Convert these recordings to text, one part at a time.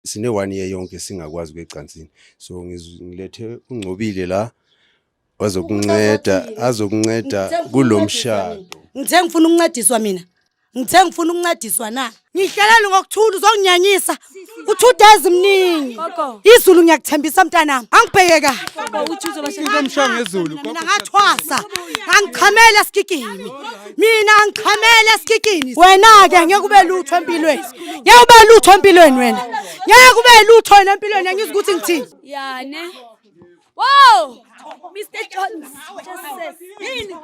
sine one year yonke singakwazi kwecansini so ngilethe ungcobile la wazokunceda azokunceda kulomshado ngithe ngifuna ukuncediswa mina ngithe ngifuna ukuncediswa na ngihlelele ngokuthula uzonginyanyisa u-two days mningi izulu ngiyakuthembisa mntanami angibheke kahle mina ngathwasa ngangichamela esigigini mina ngichamele esikikini wena-ke ngeke ube lutho empilweni ngeke ube lutho empilweni wena ngeke ube lutho wena empilweni angizwa ukuthi ngithini yane wow mr jones yini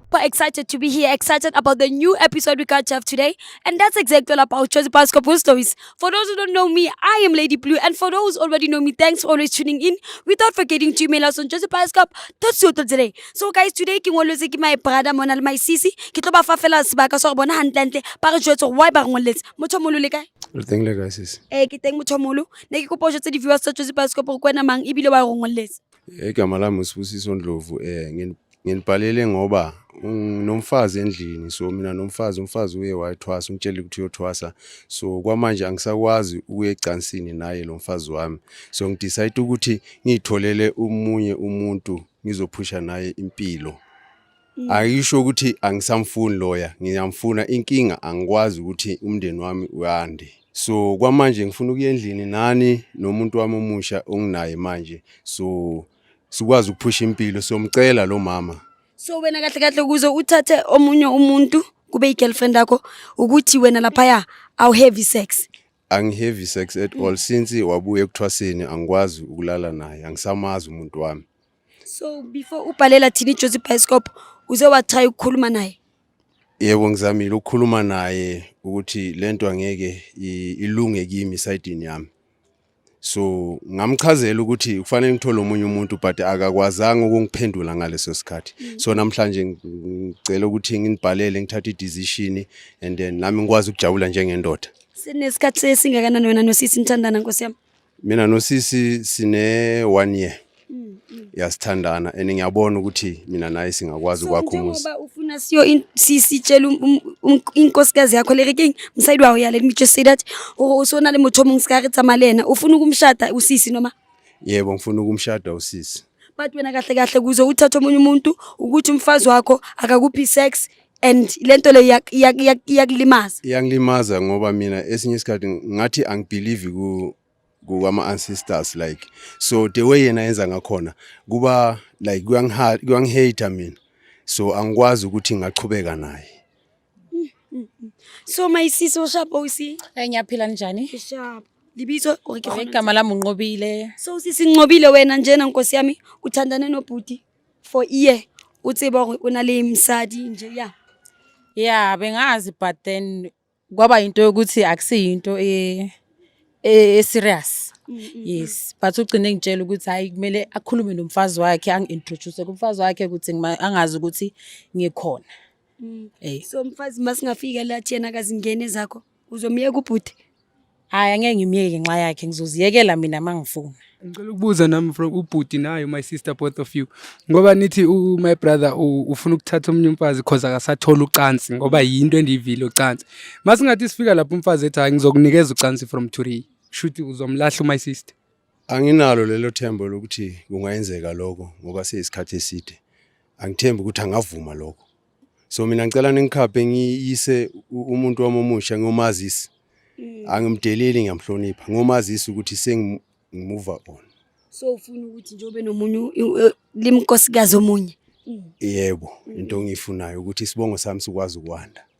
super excited to be here, excited about the new episode we got to have today. And that's exactly all about Josie Pasco Bull Stories. For those who don't know me, I am Lady Blue. And for those who already know me, thanks for always tuning in. Without forgetting to email us on today. So guys, today ke ngolwetse ke my brother mona le my sisi. Ke tlo ba fa fela sebaka sa bona hantle hantle. Ba re jwetse why ba ngoletse. Motho molo le kae? Re teng le kae sisi? Eh ke teng motho molo. Ne ke kopa o jwetse di viewers tsa Josie Pasco gore kwena mang ebile wa rongoletse. Igama lami uSibusiso Ndlovu eh nginibhalele ngoba nomfazi endlini so mina nomfazi umfazi uye wayithwasa umtshele ukuthi uyothwasa so kwamanje angisakwazi ukuya ecansini naye lo mfazi wami so ngidecide ukuthi ngiyitholele umunye umuntu ngizophusha naye impilo Mm. Ayisho ukuthi angisamfuni lawyer, ngiyamfuna inkinga angikwazi ukuthi umndeni wami uyande. So kwamanje ngifuna ukuya endlini nani nomuntu wami omusha onginaye manje. So sikwazi ukuphusha impilo siyomcela lo mama. So wena kahle kahle ukuze uthathe omunye umuntu kube i-girlfriend yakho ukuthi wena laphaya awu heavy sex. Angiheavy sex at all since wabuya ekuthwaseni angikwazi ukulala naye angisamazi umuntu wami. so before ubhalela thina ijozi bioscope uze wathaya ukukhuluma naye yebo ngizamile ukukhuluma naye ukuthi lento angeke i- ilunge kimi isayidini yami so ngamchazela ukuthi kufanele ngithole omunye umuntu but akakwazanga ukungiphendula ngaleso sikhathi so namhlanje ng- ngicela ukuthi nginibhalele ngithathe i-decision and then nami ngikwazi ukujabula njengendoda sinesikhathi sesingakanani wena nosisi nithandana nkosi yami mina nosisi sine one year mm, mm. yasithandana and ngiyabona ukuthi mina naye singakwazi ukwakha umuzi njengoba ufuna siyo in- si- sitshele um- um- um- inkosikazi yakho le rekeng mosadi wa go ya let me just say that gore o se o na le motho o mongwe se ka re tsamaya le ena o funa ukumshada usisi noma yebo ngifuna ukumshada usisi but wena kahle kahle kuze uthathe omunye umuntu ukuthi umfazi wakho akakuphi sex and lento le iyakulimaza iyanglimaza ngoba mina esinye isikhathi ngathi angibelieve ku kuwama ancestors like so the way yena yenza ngakhona kuba like kuyangihate mina so angikwazi ukuthi ngachubeka naye Mm, mm, mm. So my sis ushap OC. Eh ngiyaphila njani? Ushap. Libizo or ke khona. Igama lami unqobile. So sisi nqobile wena njena nkosi yami uthandane nobhuti for year uthi bo una le msadi nje ya. Yeah bengazi but then kwaba into yokuthi akusiyinto e e serious. Mm, mm, yes mm. but ugcine ngitshela ukuthi hayi kumele akhulume nomfazi wakhe angi-introduce kumfazi wakhe ukuthi angazi ukuthi ngikhona Mm. Hey. So mfazi masingafika la thina kazingene zakho uzomyeka ubhuti. Hayi angeke ngimyeke nxa yakhe ngizoziyekela mina mangifuna. Ngicela ukubuza nami from ubhuti nayo my sister both of you. Ngoba nithi u my brother ufuna ukuthatha omunye umfazi cause akasathola ucansi ngoba yinto endiyivile ucansi. Masingathi sifika lapho umfazi ethi hayi ngizokunikeza ucansi from Turi. Shuthi uzomlahla my sister. Anginalo lelo themba lokuthi kungayenzeka lokho ngoba seyisikhathi eside. Angithembi ukuthi angavuma lokho. So mina ngicela ningikhaphe ngiyise u- umuntu wami omusha ngiyomazisa. Angimdeleli ngiyamhlonipha. Ngiyomazisa ukuthi sengimuva on. so ufuna ukuthi njengoba nomunye limkosikazi omunye Yebo, into engiyifunayo ukuthi isibongo sami sikwazi ukwanda.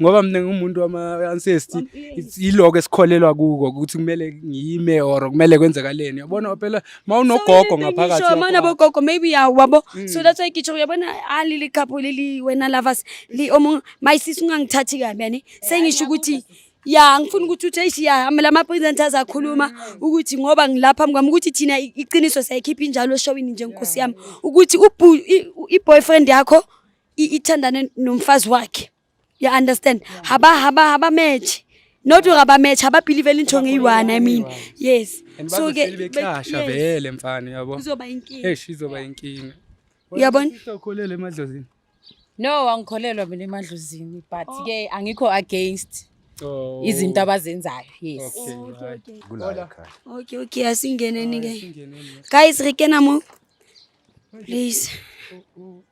ngoba mina ngumuntu wama-ancesty yiloko esikholelwa kuko ukuthi kumele ngiyime or kumele kwenzakaleni yabona phela ma unogogo ngaphakathi ma unabogogo maybe yawabo mm. so that's why ngitsho uyabona alili ah, couple lili wena lovers li omunye my sis ungangithathi kabi yani sengisho ukuthi ya ngifuna ukuthi uthi eish ya amela ama presenters akhuluma mm. ukuthi ngoba ngilapha mkwami ukuthi thina iqiniso siyayikhipha injalo eshowini nje nkosi yami ukuthi i boyfriend yakho ithandane nomfazi wakhe you understand haba haba haba match not ngaba match haba believe into ngeyiwana i mean yes so ke becasha vele mfana yabo uzoba inkinga eish izoba inkinga uyabona ukholele emadlozini no angikholelwa mina emadlozini but oh. ke angikho against Oh. izinto abazenzayo yes okay okay asingeneni ke guys re kena mo Please.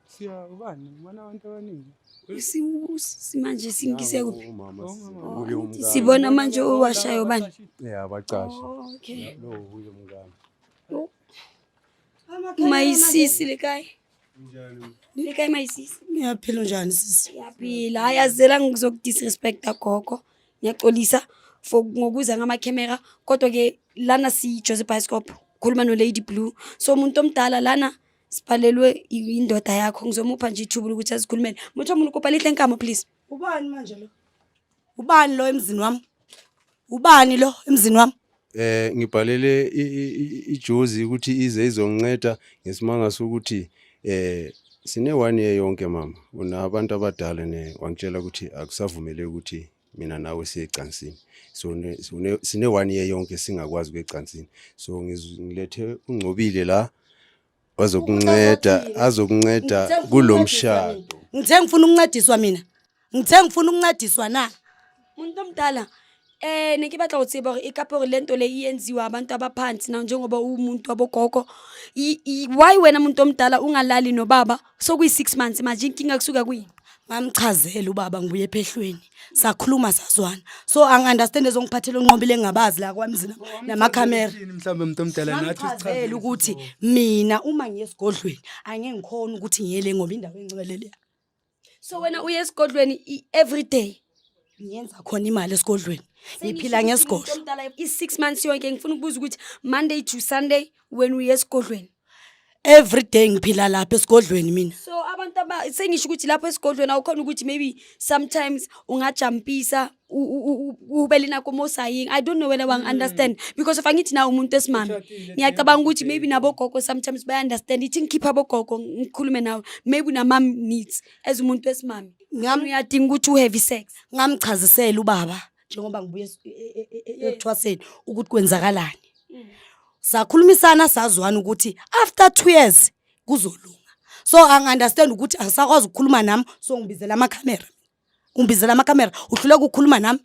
Siya ubani? Ubona abantu abaningi. Simanje singise kuphi? Sibona manje owashayo bani? Yeah, abacashe. Oh, okay. Lo uye mngani. Oh. Mayisisi lekai. Njani? Lekai mayisisi. Ngiyaphila njani sisi? Ngiyaphila. Hayi azela ngizokudisrespecta gogo. ngiyaxolisa for ngokuza ngamakhemera kodwa-ke lana siyi-jose bioscope khuluma no-lady blue so umuntu omdala lana sibhalelwe indoda yakho ngizomupha nje ithuba lokuthi azikhulumele muthi omuntu kopa lihle nkama please ubani manje lo ubani lo emzini wami ubani lo emzini wami Eh ngibhalele ijozi ukuthi ize izonceda ngesimanga sokuthi eh sine one year yonke mama unabantu abadala ne wangitshela ukuthi akusavumeleki ukuthi mina nawe siye ecansini so sine one year yonke singakwazi kwecansini so ngilethe ungcobile la wazokunceda azokunceda kulo mshado ngithe ngifuna ukuncediswa mina ngithe ngifuna ukuncediswa na muntu omdala eh ne ke batla go tseba gore e kape gore lento le e enziwa abantu abaphansi na njengoba uwumuntu wabogogo why wena muntu omdala ungalali nobaba sokuyi-six months manje inkinga kusuka kwini mamchazele ubaba ngibuye ephehlweni sakhuluma sazwana so angi-understand ezongiphathela onqobile engingabazi la kwamzina namakhamera mhlawumbe mntu omdala nathi mamchazele ukuthi mina uma ngiye esigodlweni angeke ngikhona ukuthi ngiyele ngoba indawo engcwele leya so wena uye esigodlweni i- every day ngiyenza khona imali esigodlweni ngiphila ngesigodlo omdala i-six months yonke ngifuna ukubuza ukuthi monday to sunday wena uye esigodlweni every day ngiphila lapha esigodlweni mina so abantu aba sengisho ukuthi lapho esigodlweni awukhona ukuthi maybe sometimes ungajampisa ubele nakho mosaying i don't know whether wang mm. understand because if angithi na umuntu esimami ngiyacabanga ukuthi maybe nabogogo sometimes baya understand ithi ngikhipha bogogo ngikhulume nawe maybe unamam needs as umuntu esimami ngam uyadinga ukuthi uhave sex ngamchazisela ubaba njengoba ngibuye e, e, e, ekuthwaseni ukuthi kwenzakalani mm. sakhulumisana sazwana ukuthi after two years kuzolunga so angi-understand ukuthi angisakwazi ukukhuluma nami so ngibizela amakhamera ungibizela amakhamera uhluleka ukukhuluma nami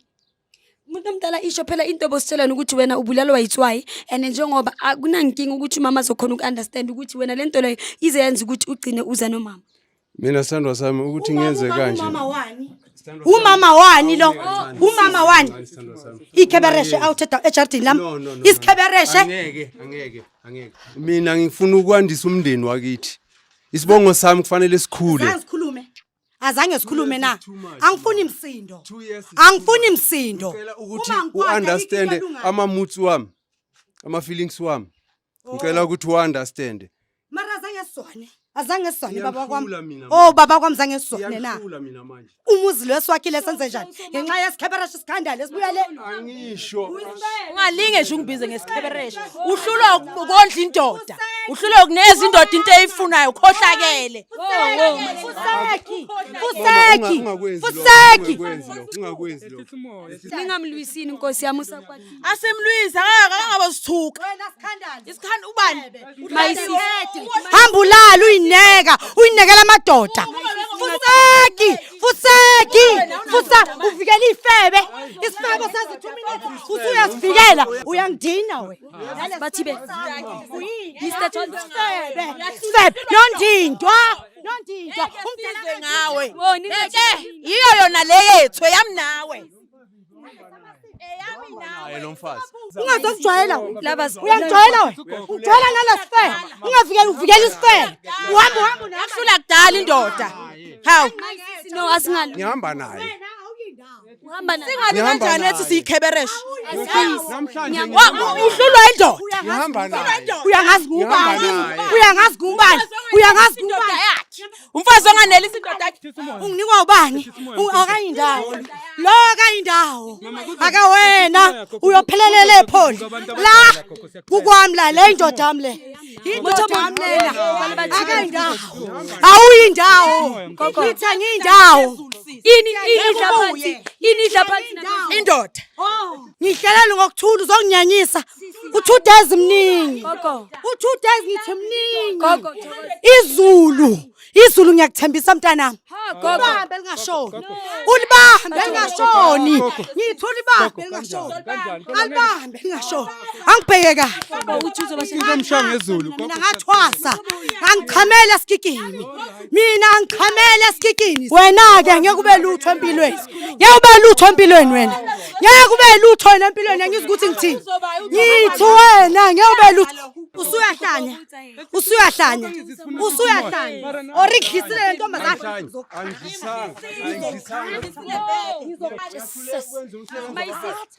umuntu omdala isho phela into obositshelana ukuthi wena ubulalwa yitswayi and njengoba akunankinga ukuthi umama azokhona uku-understand ukuthi wena le nto leyo ize yenza ukuthi ugcine uza nomama mina sithandwa sami ukuthi ngenze kanje umama wani lo umama wani ikhebereshe out ejardini lami isikhebereshe angeke angeke angeke mina ngifuna ukwandisa umndeni wakithi isibongo sami kufanele sikhule sikhulume azange sikhulume na angifuni imsindo angifuni imsindo ukuthi uunderstand ama moods wami ama feelings wami ngicela ukuthi uunderstand mara azange sone azange sone baba kwam Ngiyakhula mina oh manje. baba kwam zange sone na Ngiyakhula mina manje umuzi lo esiwakhile senze njani ngenxa yesikhebereshe isikhandala esibuya le angisho ungalinge nje ungibize ngesikhebereshe uhlulwa uku- ukondla indoda uhlulwa ukuneza indoda into eyifunayo ukhohlakele fuseki Mama, fuseki unga- ungakwenzi lokho, fuseki ungakwenzi lokho, ungakwenzi lokho ningamlwisini nkosi yami usakwati asimlwise akangaba sithuka isikhanda ubani hamba ulala uyineka uyinekela amadoda fuseki fuseki fusa uvikela ifebe isifebe sazi 2 minutes usuyasivikela uyangidina we bathi be Mr John febe febe nondindwa nondindwa umdala ngawe yiyo yona le yethu yami nawe ungazokujwayela uyakujwayela ujwayela nala sifele ungavikeli uvikela isifele uhamba uhamba unakusula kudala indoda hawu no asingali ngihamba naye singalinganjani ethi siyikhebereshe uhlulwa indoda uyangazi kubani uyangazi kubani uyangazi kubani umfazi onganelisi indoda yakhe unginikwa ubani akayindawo lo akayindawo akawena uyophelelela epholi la kukwami la le indoda yami le awuyindawo ngithe ngiyindawo ini idla phansi ini idla phansi indoda oh. ngihlelela ngokuthula uzonginyanyisa u-two days mningi u-two days ngithi mningi izulu izulu ngiyakuthembisa mntanami ulibambe lingashoni ulibambe lingashoni ngithi ulibambe lingashoni alibambe lingashoni angibheke kahle mina ngathwasa ngangichamela sigigimi mina ngichamele esikikini wena-ke ngeke ube lutho empilweni ngeke ube lutho empilweni wena ngeke ube lutho wena empilweni angizwa ukuthi ngithini ngithi wena ngeke ube lutho usuyahlanya usuyahlanya usuyahlanya orikhisile le ntombazane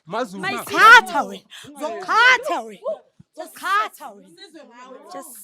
Mazulu. Mayisithatha wena. Zokhatha wena. Zokhatha wena. Just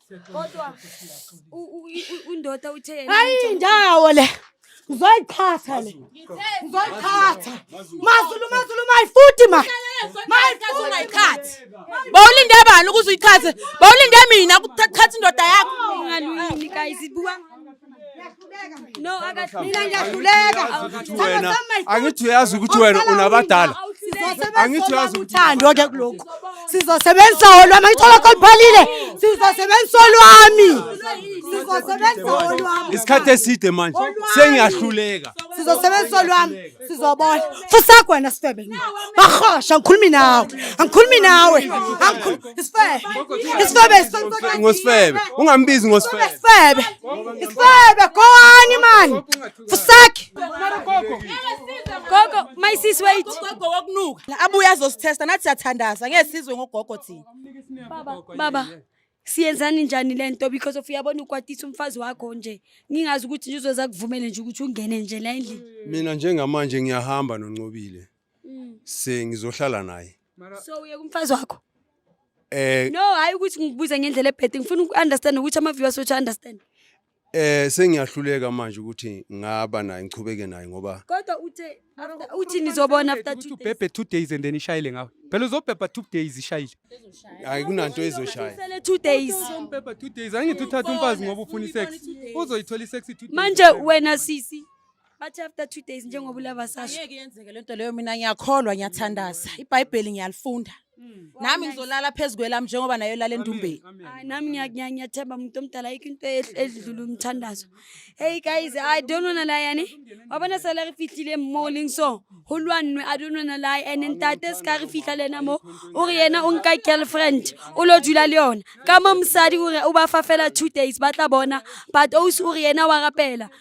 Kodwa undoda uthe yena hayi indawo le ngizoyixhatha le ngizoyixhatha mazulu mazulu my foot ma my foot ungayikhathi bawulinde bani ukuze uyikhathe bawulinde mina ukuthatha indoda yakho ngalwini guys ibuka No, mina ngiyahluleka. Wena angithi uyazi ukuthi wena unabadala. Angithi uyazi uthando ke kuloko. Sizosebenzisa wona mayithola koliphalile. Sizosebenzisa olwami. Sizosebenzisa olwami. Isikhathi eside manje sengiyahluleka. Sizosebenzisa olwami. sizobona fusakho wena sifebe bahosha angikhulumi nawe angikhulumi nawe ngosifebe ungambizi ngosifebe sifebe sifebe kowani mani fusakhe gogo my sis wait gogo wakunuka abuye azosithesta nathi siyathandaza ngeke sizwe ngogogo thina baba baba siyenzani njani le nto because of uyabona ukwatisa umfazi wakho nje ngingazi ukuthi nje uzoza kuvumele nje ukuthi ungene nje la endlini mina njengamanje ngiyahamba noncobile Mm. sengizohlala naye so uye kumfazi wakho eh no hhayi ukuthi ngikubuze ngendlela ebhede ngifuna uku-understand ukuthi ama-viewers wethu understand Eh sengiyahluleka manje ukuthi ngaba naye ngichubeke naye ngoba Kodwa uthe after- uthi nizobona after Ukuthi two days. ubhebhe two days and then ishayile ngawe phela uzobhebha two days ishayile hayi kunanto ezoshaya. Usele two days. uzombhebha two days angithi uthatha umfazi ngoba ufuna isex uzoyithola isex two days manje wena sisi Bathi after two days njengoba ulava sasho. Ayeke yenzeke lento leyo mina ngiyakholwa ngiyathandaza. IBhayibheli ngiyalifunda. Mm. Nami ngizolala phezu kwelami njengoba nayo lala endumbeni. Hayi nami ngiya- ngiya- ngiyathemba umuntu omdala ayikho into ehl- edlula umthandazo. Hey guys, I don't wanna lie yani. Wabona sala re fihlile mo leng so. Ho lwanwe I don't wanna lie and ntate se ka re fihla le yena mo. O re yena o nka girlfriend o lo dula le yona. Ka mo mosadi o re o ba fa fela two days ba tla bona but o se o re yena wa rapela.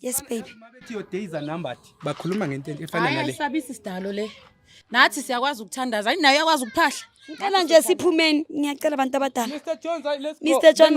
yes baby mabethi your days are numbered bakhuluma ngento efana nale ayisabisi sidalo le nathi siyakwazi ukuthandaza ayinayo yakwazi ukuphahla ngicela nje siphumeni ngiyacela abantu abadala Mr Jones let's go Mr Jones